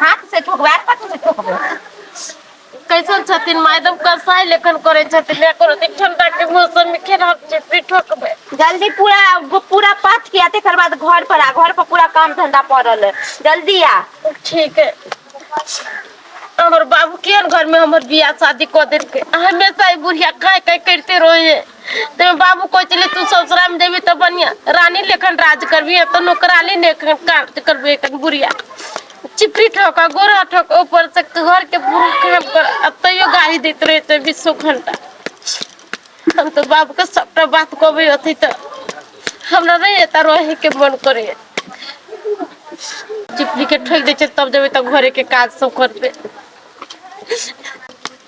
हाथ से ठोकबै आर कथी से ठोकबै कैसन छथिन माय एकदम कसाई लेखन करै छथिन या कोनो दिन ठंडा के मौसम में केना हम चिपी ठोकबै जल्दी पूरा पूरा पाठ किया तकर बाद घर पर आ घर पर पूरा काम धंधा पड़ल है जल्दी आ ठीक है हमर बाबू केहन घर में हमर बियाह शादी कऽ देलकै हमेशा ई बुढ़िया काय काय करते रहे है तेमे बाबू कहै छलै तू ससुरामे जेबही तऽ बढ़िआँ रानी लेखन राज करबही तऽ नौकरानी लेखन काज करबही एखन बुढ़िया चिपरी ठोक गोरा ठोक ऊपर से घर के बुरा काम कर आ तैयो गाड़ी दैत रहे छै बीसो घंटा हम तो बाप के सबटा बात कहबे अथी तो हमरा नहीं एता रहे के मन करे चिपरी के ठोक दे छै तब जेबे तब घरे के काज सब करबे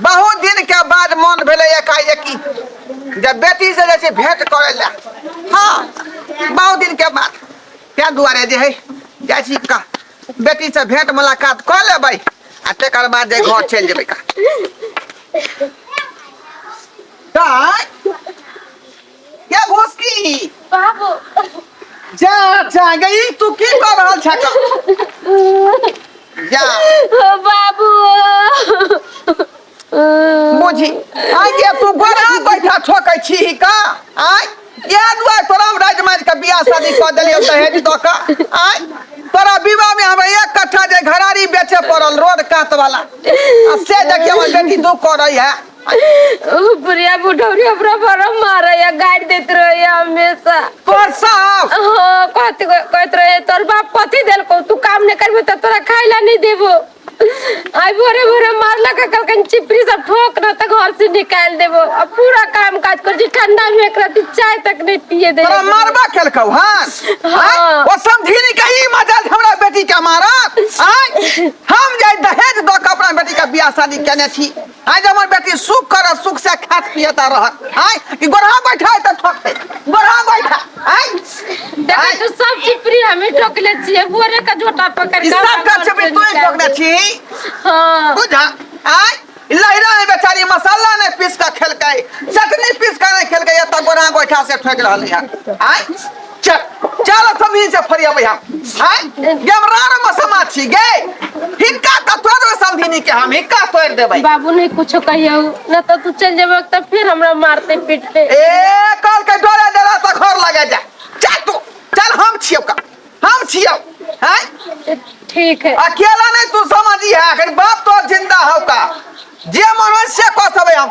बहुत दिन के बाद मन भेले एकाएकी जे बेटी से जे छै भेंट करे ले हाँ बहुत दिन के बाद तै दुआरे जे है जाइ छी का बेटी से भेंट मुलाकात कर लेबै आ तकर बाद जे घर चलि जेबै का दाय क्या भोसकी बाबू जा जा गई तू की कर रहल छक जा बाबू बुझी आइ जे तू गोरा बैठा ठोकै छी ही का आइ ये दुआ तोरा हम राज मार के बियाह शादी कऽ देलियौ दहेज दऽ कऽ आइ तोरा विवाह में हमरा एक कट्ठा जे घरारी बेचे पड़ल रोड कात वाला आ से देखियौ हमर बेटी दू करै है बुढ़िया बुढ़ौरी हमरा बड़ा मारा या गाड़ी देत रहे या हमेशा तोर साफ हाँ कहत कहत रहे तोर बाप पति देल को तू काम नहीं करबे तो तोरा खाए ला नहीं देबो आई भोरे भोरे मारला का कल कन चिपरी सब ठोक ना तो घर से निकाल देबो अब पूरा काम काज कर जी ठंडा में एक रात चाय तक नहीं पिए दे तोरा मारबा खेलकौ हां हाँ। ओ समझी नहीं कहीं मजाल हमरा बेटी का मारा आय हम जाय दहेज दो के अपना बेटी का बियाह शादी केने छी आइ जे हमर बेटी सुख करत सुख से खात पियत आ रहत आइ कि गोरहा बैठा है तऽ ठोकते गोरहा बैठा आइ देखै तू सब चीज प्रिय हमें ठोकले छियै बोरे का झोटा पकड़ ई के सब का छबी तू ठोकने छी हां बुझा आइ ई लहिरा है बेचारी मसाला ने पीस के खेलकै चटनी पीस के नहीं खेलकै एतऽ गोरहा गोइठा से ठोक रहलै है आइ चल चल सब ही से फरिया भैया हाय गेमरार में समा छी गे हिक्का त तोड़ देबे समधिनी के हम हिक्का तोड़ देबे बाबू नहीं कुछ कहियो ना तो तू चल जाबे तो फिर हमरा मारते पीटते ए कल के डोरे डरा त घर लगे जा चल तू चल हम छियो का हम छियो हैं ठीक है अकेला नहीं तू समझी है अगर बाप तो जिंदा हो का जे मनुष्य को सबे हम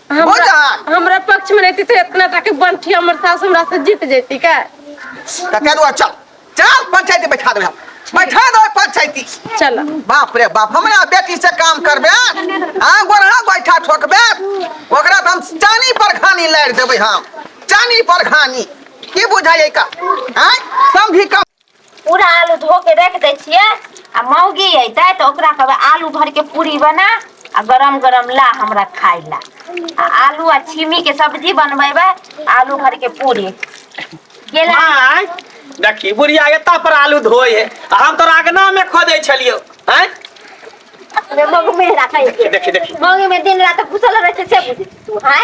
हमरा बुझल हमरा पक्ष मे रहती तऽ इतना टा के बंठी हमर सास हमरा से जीत जैती का तऽ कह दो चल चल पंचायती बैठा देबै हम बैठा देबै पंचायती चल बाप रे बाप हमरा बेटी से काम करबे आ गोरहा गोइठा ठोकबे ओकरा तऽ हम चानी पर घानी लारि देबै हम चानी पर घानी की बुझाइए का आँय समझी कम पूरा आलू धो के राखि दै छियै आ मौगी अयतै तऽ ओकरा कहबै आलू भरिके पूरी बना आ गरम गरम ला हमरा खाय ला आ आलू आ छिमीके सब्जी बनबेबै आलू भरिके पूरी गेला आँय देखी बुढ़िया एता पर आलू धोए है आ हम तोरा अगना में खोदे छलियो आँय मौगी मेहरा कहै छै देखी देखी मौगी मे दिन रात घुसल रहै छै से बुझै छी तू हैं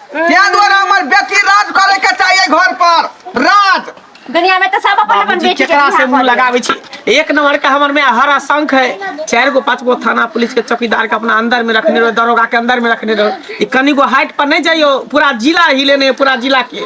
क्या द्वारा हमार बेटी राज करे के चाहिए घर पर राज दुनिया में तो सब अपन अपन बाबूजी बेटी के केकरा से बियाह मुंह कऽ लगावे छी एक नंबर का हमर में हर आशंक है चार गो पांच गो थाना पुलिस के चौकीदार के अपना अंदर में रखने रहो दरोगा के अंदर में रखने रहो ई कनी गो हाइट पर नहीं जाइयो पूरा जिला हिले ने पूरा जिला के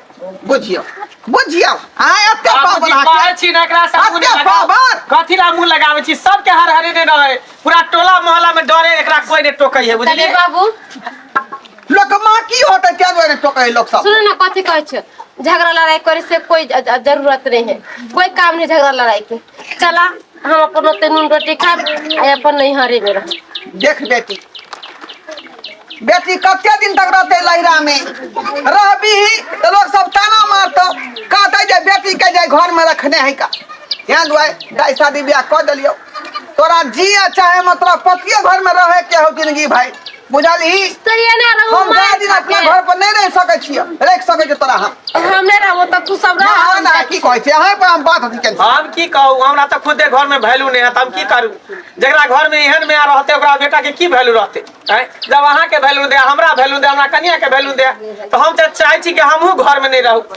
बुझियो बुझियो आय एते पावर बाबूजी कहै हाके छी ना एकरा से मुंह अते लगाओ। पावर। कथी ला मुंह लगाबै छी सबके हर हरे ने रहे पूरा टोला मोहल्ला में डरे एकरा कोई ने टोकै है तनी बुझलिए बाबू लोक माँ की होते क्या दुआरे टोके लोग सब सुनो ना कथी कहै छ झगड़ा लड़ाई करे से कोई ज- ज- जरूरत नहीं है कोई काम नहीं झगड़ा लड़ाई के चला हम अपन ओते नून रोटी खाब आ अपन नैहरे में रह देख बेटी बेटी कते दिन तक रहते लहरा में रहबी तो लोग सब ताना मारतो कहते जे बेटी के जे घर में रखने है का यहाँ दुआ दाई शादी ब्याह कर दिलियो तोरा जिया चाहे मतलब पतिये घर में रहे के हो जिंदगी भाई बुझलही कहिया ना रहू हम मार गाय दिन खा अपना के। घर पर नहीं रह सके छी रख सके छी तोरा हम हम नहीं रहू तो तू सब ना रह ना की कहै छै अहे पर हम बात हथी केन हम की कहू हमरा तऽ खुदे घर में वैल्यू नहीं है तऽ हम की करू जकरा घर में एहन में रहते ओकरा बेटा के की वैल्यू रहते हैं? जब अहाँ के वैल्यू दे हमरा वैल्यू दे हमरा कनिया के वैल्यू दे तो हम तऽ चाहे छी कि हमहू घर में नहीं रहू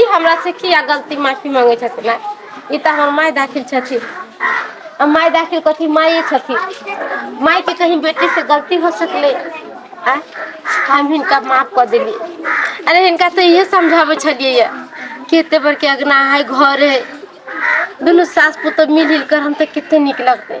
ई हमरा से किया गलती माफी मांगे छथिन आय ई तऽ हमर माय दाखिल छथिन आ माय दाखिल कथी माये छथिन माय के कही बेटी से गलती हो सकलै आ हम हिनका माफ कऽ देली अरे हिनका तऽ इहे समझाबै छलियै य कि एते बड़के अगना है घर है दुनू सास पुतोह मिल जुल कर हम तऽ कते नीक लगतै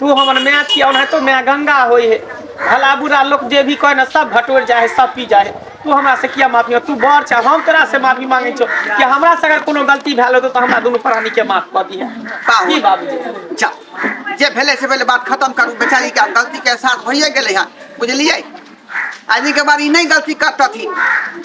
तू हमर माय छी ओनाहितो माय गंगा होई है भला बुरा लोग जे भी कहे ना सब भटोर जाए है सब पी जाए है तू हमरा से किया माफी मांग- तू बड़ छ हम तोरा से माफी मांगे छो कि हमरा से अगर कोनो गलती भेल होतो तो हमरा दुनू प्राणी के माफ कर दिया बाबू। की बाबूजी जा जे भेले से पहले बात खत्म करू बेचारी के आब गलती के एहसास भइए गेलै हन बुझलियै आदमी के बार ई नहीं गलती करतथिन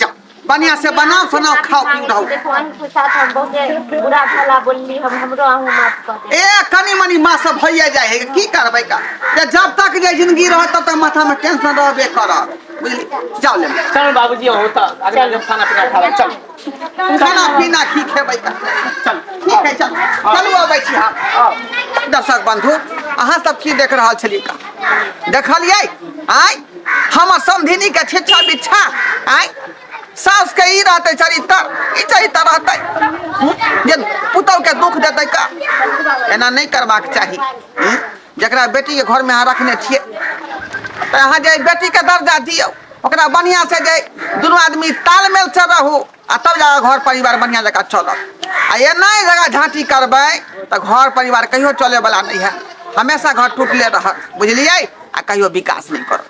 जा बढ़िया से बनाओ सुनाओ खाओ पीओ रहो देखो अहीं के साथ हम बहुते बुरा भला बोलली हम हमरो अहूँ माफ कर दे ए कनी मनी माँ सब भैया जाए है की करबै का जे जब तक जे जिंदगी रहत तब तक माथा में टेंशन रहबे करत बुझली जाओ ले चल बाबूजी हो तो अगला जब खाना पीना खा रहा चल खाना पीना की खेबै का चल ठीक है चल चलू अबै छी हम दर्शक बंधु अहाँ सब की देख रहल छलियै का देखलियै आय हमर समधिनी के छिछा बिछा आय सास के ई रहते चरित्र ई चरित्र रहते हम्म? जे पुतौ के दुख देते का एना नहीं करबाक चाही हम्म? जकरा बेटी के घर में अहाँ रखने छिए तो अहाँ जे बेटी के दर्जा दियो ओकरा बढ़िया से जे दुनू आदमी तालमेल से रहू आ तब जा घर परिवार बढ़िया जगह चलत आ ये नहीं जगह झांटी करबे तो घर परिवार कहियो चले वाला नहीं है हमेशा घर टूटले रह बुझलिए आ कहियो विकास नहीं करत